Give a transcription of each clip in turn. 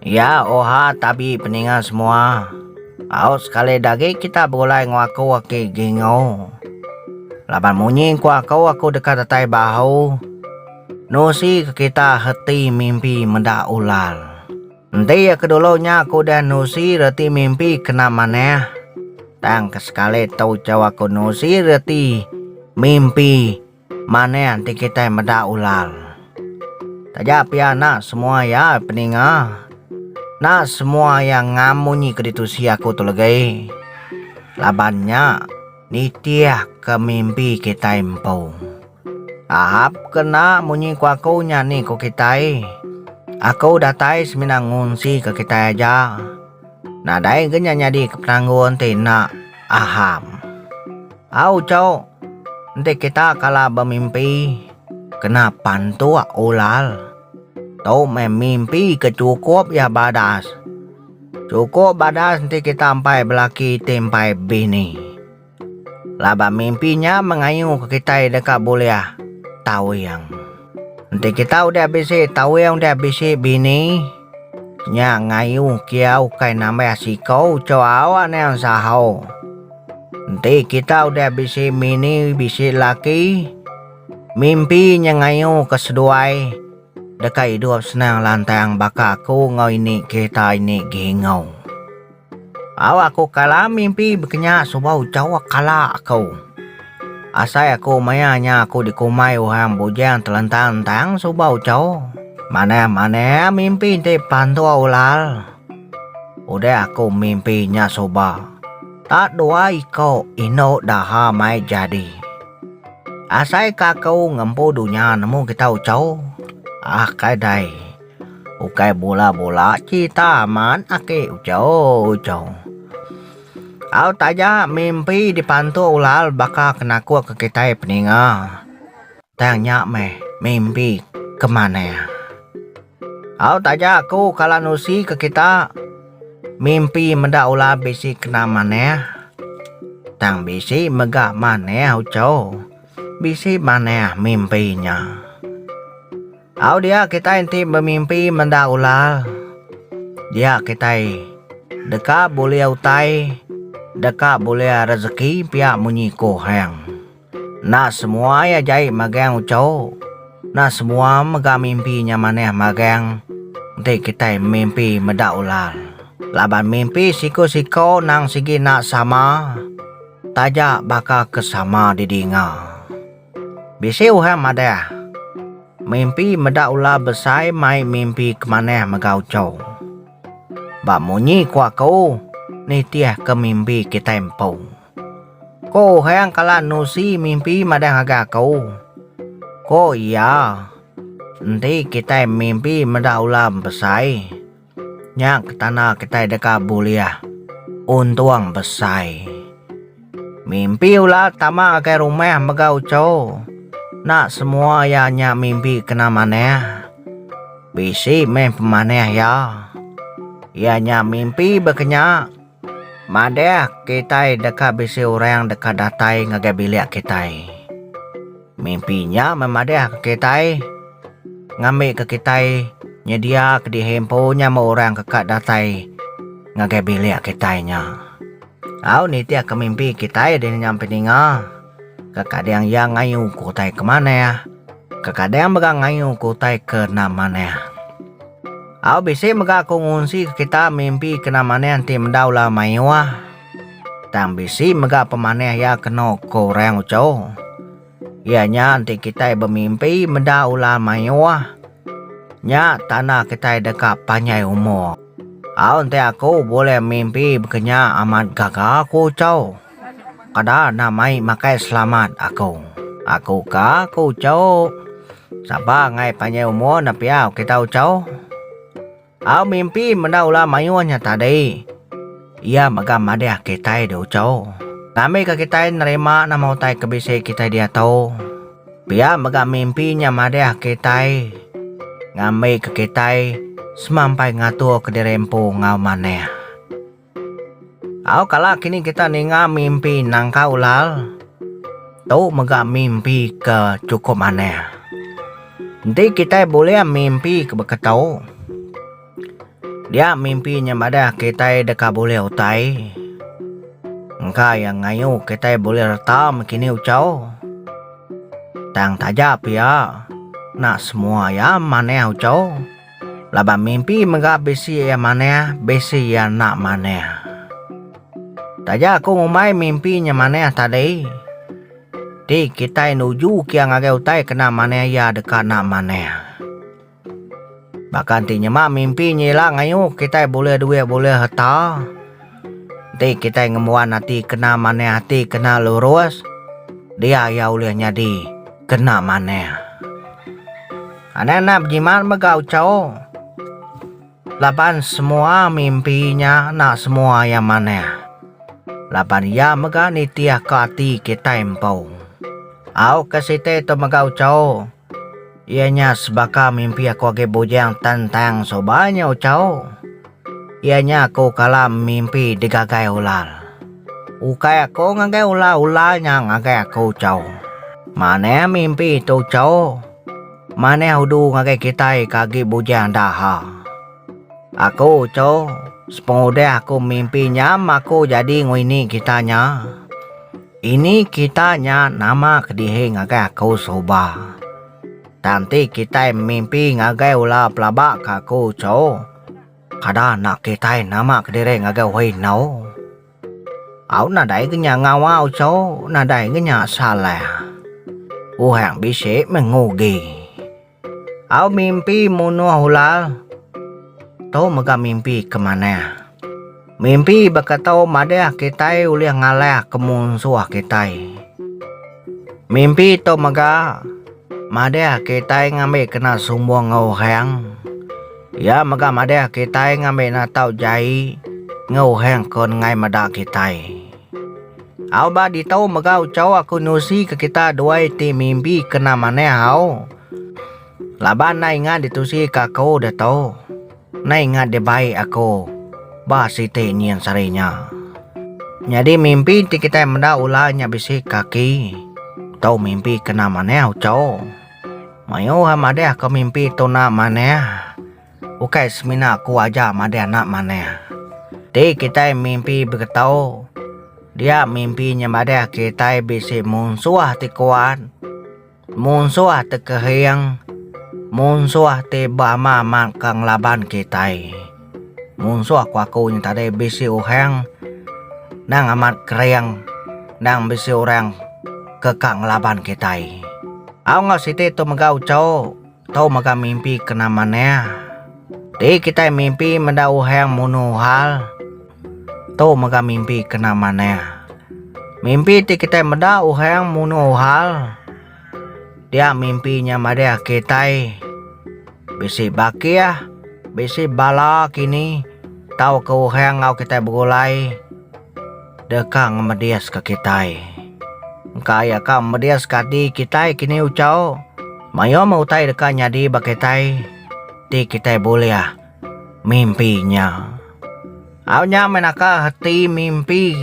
Iya, oha tabi peninga semua. Au sekali dagi kita begulai enggau aku agi Gingo. Laban munyi engku aku, aku deka datai bahu. Nusi ke kita reti mimpi meda ulal. Enti iya ke dulu nya aku udah nusi reti mimpi kena manah. Tang ke sekali tu chau aku nusi reti mimpi. Manah enti kitai meda ulal. Taja pia enda semua iya peninga. Enda semua iya ngam munyi ke ditusi aku tu legai. Laban nya nitihka mimpi kitai empu. Ahap ke enda munyi ku aku nya ni ku kitai. Aku datai semina ngunsika kitai aja. Nadai ke nya nyadi ke penanggul enti enda aham. Au cuk. Enti kita kala bemimpi kena pantuk ulal. Tu meh mimpi ke chukup iya badas. Chukup badas enti kita empai belaki ti empai bini. Laban mimpi nya mengayuhka kitai deka bulih tawing. Enti kita udah bisi tawing udah bisi bini, nya ngayuh kia ukai nambah siko ucho awa niang saho. Enti kita udah bisi bini bisi laki, mimpi nya ngayuhka seduai deka idup senang lantang baka aku enggau ini kita ini Gingau. Au aku kala mimpi bekenya suba ucha wa kala aku. Asai aku maya nya aku dikumbai orang bujang telentang tang suba ucha. Manah manah mimpi enti pantua ulal. Udah aku mimpi nya suba, ta dua iko indu daha mai jadi. Asai ka aku ngempu dunya nemu kita ucha. Ah kai dai. Ukai bula-bula cita amat ake ucau-ucau. Au taja mimpi dipantu ulal baka ke naku ke kitai peninga. Tang nya meh mimpi ke manah. Au taja aku kala nusi ke kita mimpi meda ulal bisi kena manah. Tang bisi mega manah ucau. Bisi manah mimpi nya. Au dia kitai enti bemimpi menda ular, dia kitai deka bulih utai, deka bulih rezeki pia munyi ko Hang. Enda semua ia jai magang ucho, enda semua mega mimpi nya manah magang enti kitai memimpi meda ular. Laban mimpi siko-siko nang sigi enda sama, taja baka ke sama didinga. Bisi orang madah, mimpi meda ular besai mai mimpi ke manah mega uchu. Ba munyi ku aku, nitihka mimpi kitai empu. Ko orang kala nusi mimpi madah ngagai aku. Ko iya, enti kitai mimpi meda ular besai. Nya ke tanda kitai deka bulih untung besai. Mimpi ula tama ngagai rumah mega uchu. Enda semua iya nya mimpi kena manah. Bisi meh pemanah iya. Iya nya mimpi ba ke nya. Madah kitai deka bisi orang deka datai ngagai bilik kitai. Mimpi nya meh madahka kitai, ngambika kitai nyediaka dihi empu nya meh orang ke ka datai ngagai bilik kitai nya. Au nitihka mimpi kitai dini nya empu ninga. Kekadang iya ngayu ke utai ke manah, kekadang mega ngayu ke utai ke enda manah. Au bisi mega aku ngunsi ke kita mimpi kena manah enti meda ulah mayuh. Tang bisi mega pemanah iya kenu ke orang uchu. Iya nya enti kitai bemimpi meda ulah mayuh nya tanda kitai deka panjai umur. Au enti aku bulih mimpi baka nya amat gaga aku uchu. Kada enda mai makai selamat aku. Aku ka ku ucok. Sabar angai panjai umur enda pia ok kita ucok. Au mimpi meda ular mayuh nya tadi. Iya mega madih kitai di ucok. Ngambi ka kitai nerima nama utai ke bisi kitai diatu. Pia mega mimpi nya madih kitai ngambi ka kitai semampai ngatur ka diri empu enggau manah. Au kala kini kita ninga mimpi nangka ulal tu mega mimpi ke chukup manah. Enti kitai bulih mimpi ke beketu dia mimpi nya madah kitai deka bulih utai engka iya ngayu kitai bulih reta meh kini uchaw tang taja pia nak semua iya manah uchaw. Laban mimpi mega bisi iya manah, bisi iya enda manah. Taja aku ngumbai mimpi nya manah tadi, ti kitai nuju kia ngagai utai kena manah iya deka enda manah. Baka enti nyema mimpi nya ila ngayuh kitai bulih duit bulih harta, enti kitai ngembuan ati kena manah ati kena lurus, dia iya ulih nyadi kena manah. Anang enda bejimat mega uchaw laban semua mimpi nya enda semua iya manah laban iya mega nitih ka ati kitai empu. Au ka siti tu mega uchaw iya nya sebaka mimpi aku agi bujang tentang suba nya uchaw Iya nya aku kala mimpi digagai ular. Ukai aku ngagai ular, ular nya ngagai aku chau. Manah mimpi tu chau. Manah udu ngagai kitai ke agi bujang enda ha. Aku chau, sepengudah aku mimpi nya maku jadi enggau ini kita nya. Ini kita nya nama kedihi ngagai aku suba. Tang ti kitai mimpi ngagai ular pelaba ke aku chau. Kada enda kitai nama kediri ngagai Wei Enau. Au nadai ke nya ngawa uchu, nadai ke nya salah. Puhang bisi meh ngugi. Au mimpi munuh ulal, tu mega mimpi ke manah. Mimpi baka tau madah kitai ulih ngalah ke munsuh kitai. Mimpi tau mega madah kitai ngambi kena sumbung enggau orang. Iya mega madah kitai ngambi natau jai enggau orang ke nenggai meda kitai. Au ba ditu mega uchu aku nusi ke kita duai ti mimpi kena manah au. Laban enda ingat ditusika aku ditu. Enda ingat dia bai aku. Ba siti nyin sehari nya. Nyadi mimpi enti kitai meda ular nya bisi kaki. Tu mimpi kena manah uco. Mayuh a madah ko mimpi tu enda manah. Ukai semina aku aja madah enda manah. Enti kitai mimpi begeto dia mimpi nya madah kitai bisi munsuh ti kuat. Munsuh te kehing, munsuh te bama mak ka ngelaban kitai. Munsuh ku aku nya tadi bisi uhang nang amat kering nang bisi orang ke ka ngelaban kitai. Au enggau siti tu mega uchu. Tau mega mimpi kena manah. Ti kitai mimpi meda uhang munu hal. Tu mega mimpi kena manah. Mimpi ti kitai meda uhang munu hal dia mimpi nya madah kitai bisi bakih, bisi bala kini tauka uhang enggau kitai begulai. Deka ngemediska kitai. Engka iya ka memediska ati kitai kini uchaw. Mayom utai deka nyadi ba kitai ti kitai bulih mimpi nya. Au nya meh naka ati mimpi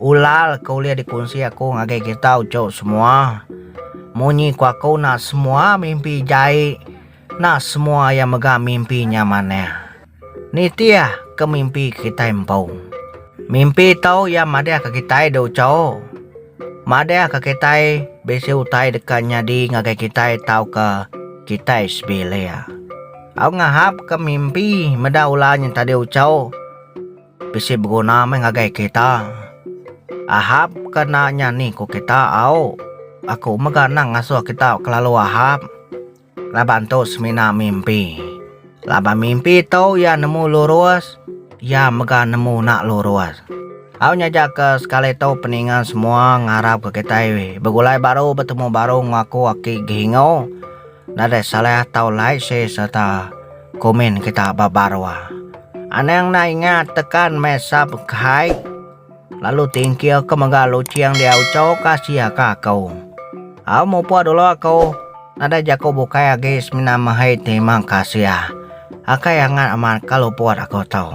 ulal ke ulih dikunsi aku ngagai kita uchaw semua. Munyi ku aku enda semua mimpi jai enda semua iya mega mimpi nya manah. Nitih ke mimpi kitai empu. Mimpi tu iya madahka kitai dau chau. Madahka kitai bisi utai deka nyadi ngagai kitai tauka kitai sebilik. Au ngahapka mimpi meda ular nya tadi uchau bisi beguna meh ngagai kita. Ahapka enda nya ni ku kita au. Aku mega anang ngasuh kita kelalu ahap. Laban tu semina mimpi. Laban mimpi tu iya nemu lurus, iya mega nemu enda lurus. Au nyajaka sekali tu peninga semua ngarapka kitai begulai baru betemu baru enggau aku aki Gihingo. Nadai salah tau like share sereta komen kita ba baruh. Anang enda ingat tekan meh subcribe. lalu tingkirka mega luching dia uchoka siaka aku. Au mupuk dulu aku, nadai jaku bukai agi semina mehei terima kasih akai angat amat ka luput aku tu.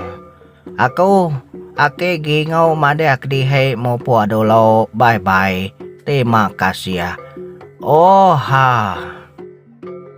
Aku, Aki Gingau madah kedihei mupuk dulu bye bye terima kasih. Ohh.